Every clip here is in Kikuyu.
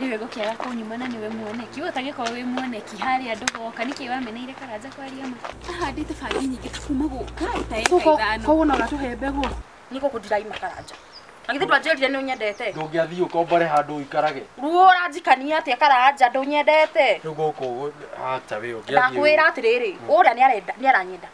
Nĩwe gũkĩaga kũnyuma na nĩwe muoneki. Ũguo ũtangĩkorwo wĩ muoneki harĩa andũ goka nĩkĩ wameneire Karanja kwaria ma. Ahandĩte bangi nyingĩ ta kuma gũka ta ĩka ithano. Koguo no ũratũhe mbegũ? Nĩ gũkũ ndiraima Karanja. Na githĩ ndwanjĩrire nĩ ũnyendete? Ndũngĩathiĩ ũkombore handũ ũikarage. Ruo ũranjikania atĩa Karanja ndũnyendete? Rĩu gũkũ hacha wĩ ũngĩathiĩ. Ndakwĩra atĩrĩrĩ, ũrĩa nĩ arenda nĩ aranyenda.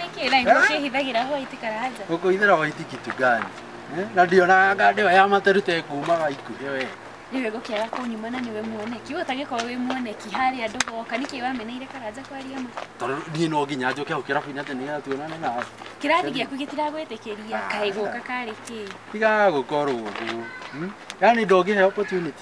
Nĩkĩ na ibuku kĩhithagĩra hwaiti karanja? Huko ithira waiti kitu gani? Eh, Na ndio na ngande ya matarute kuumaga ikuhe we. Nĩwe gũkĩaga kũnyuma na nĩwe muoneki. Ũyũ ũtangĩkorwo wĩ muoneki harĩa andũ goka nĩkĩ wameneire karanja kwaria ma? Tondũ niĩ no nginya njoke hau kĩrabu-inĩ atĩ nĩgetha tuonane nawe. Kĩrathi gĩaku gĩtiragwĩtĩkĩria kaĩ gũka karĩ kĩĩ? Tiga gũkorwo ũguo. Hmm? Yaani ndũngĩhe opportunity.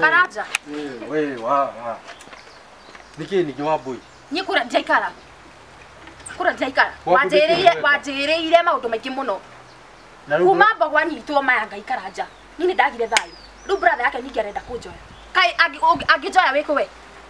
Karaja. Wewe wa wa. Niki ni jwa boy. Nyi kura jaikara. Kura jaikara. Wa kũndĩkĩrĩria Wanjĩrĩire wega. wanjĩrĩire maũndũ maingĩ mũno. Na rĩu Kuma mbogo anyitwo maya ngaikara nja. Nyi nĩ ndagire thayũ. Rĩu brother yake nyingĩ arenda kũnjoya. Kai angĩ- ũngĩ- angĩnjoya wĩkũ we?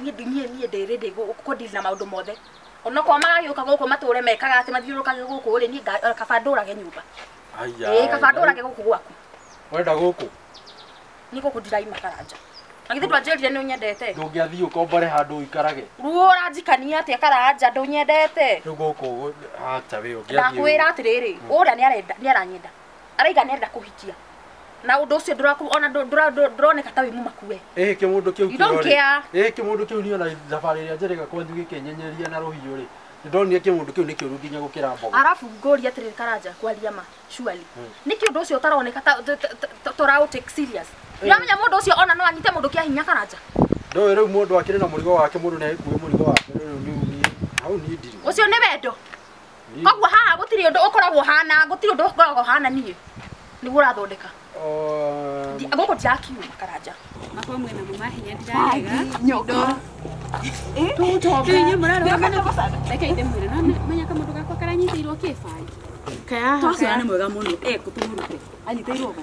niĩ ndi- niĩ niĩ ndĩ ready gũ- kũ deal na maũndũ mothe onokorwo magagĩũka gũkũ matũre mekaga atĩ mathiũrũrũkage gũkũ rĩ niĩ nga- eh, kaba ndũrage nyũmba ĩĩ kaba ndũrage gũkũ gwaku wenda gũkũ nĩ gũkũ ndiraima karanja na githĩ ndwanjĩrire nĩ ũnyendete ndũngĩathiĩ ũkombore handũ ũikarage ruo ũranjikania atĩa karanja ndũnyendete rĩu gũkũ hacha wĩ ũngĩathiĩ ndakwĩra atĩrĩrĩ ũrĩa nĩarenda- nĩaranyenda araiga nenda kuhikia na undu ucio nduraku ona ndu- ndura- ndu- nduroneka ta wi mumaku we ĩhĩ kĩmũndũ kĩu You don't kĩrorĩ. care. ĩhĩ kĩmũndũ kĩu niĩ ona thabarĩ ĩrĩa njerega kwanyu gĩkĩnyenyeria na rũhiũ rĩ ndonire kĩmũndũ kĩu nĩ kĩũru nginya gũkĩra mbogo arabu ngũria atiriri karanja kwaria ma surely Mm. niki undu ucio utaroneka ta- ta- ta- ta- turaũ take serious ndamenya mundu ucio ona no anyite mundu kia hinya karanja ndoĩ rĩu mũndũ akĩrĩ na mũrigo wake mũndũ nĩ agĩkuĩ mũrigo wake rĩu niĩ hau niĩ ndirĩ ucio ni wendo Ni- koguo haha gũtirĩ ũndũ ũkoragwo hana gũtirĩ ũndũ ũkoragwo hana niĩ nĩguo ũrathondeka Oh, Ndi- gũkũ ndirakiuma karanja makwa mwena mama hinya ndirarega nyoka Inyuĩ mũrarũgama na- reke ithe mwĩre no nĩ- menya kamũndũ gakwa karanyitĩirwo kĩbangi kayaha Twaciara nĩ mwega mũno. Eh, kũtũmũrute. Anyitĩirwo gũ.